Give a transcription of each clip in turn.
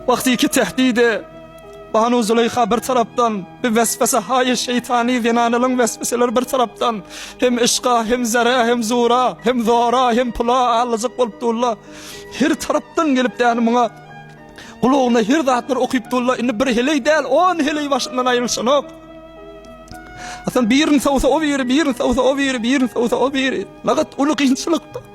Wagtyky tehdide, Banu Zuleýha bir tarapdan, bi weswesehaýy şeýtany zenanalyň wesweseleri bir tarapdan, hem yşka, hem zerä, hem zura, hem zora, hem pula allyjak bolup durla. Her tarapdan gelip däni muňa gulagyna her zatlar okyp durla. Indi bir heleý däl, on heleý başyndan aýrylyşanok. Hasan birini sowsa o biri, birini sowsa o biri, birini sowsa o biri. Nagat uly kynçylykda.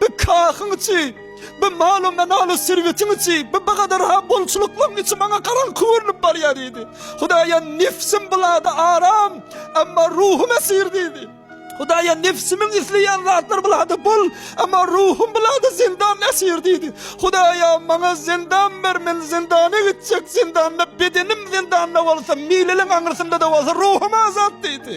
Bi kahyň içi, bi malum-manaly serwetiň içi, bi bu gadar-ha bolçulyklyň içi maňa garaňky görnüp barýar diýdi. Hudaýa nefisim bu zada aram, emma ruhum esir diýdi. Hudaýa nefsimiň isleýän zatlar bu zada bol, emma ruhum bu zada zindan esir diýdi. Hudaýa maňa zindan ber, men zindana gitjek, zindanda bedenim zindanda bolsa, mililiň aňyrsynda-da bolsa ruhum azat diýdi.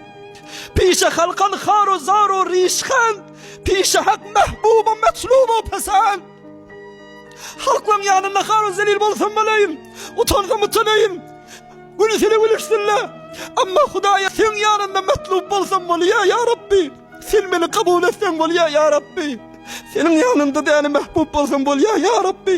Pişe halkan haru zaru rişhan, Pişe hak mehbuba metlubu pesan. Halklaň ýanynda haru zelil bolsam bolaýyn, Utansam utanaýyn, gülsele gülüşsinle. Amma Hudaýa seň ýanynda metlub bolsam bolýa, ýa Rabbi, Sen meni kabul etseň bolýa, ýa Rabbi, Seniň ýanynda däne mehbub bolsam bolýa, ýa Rabbi.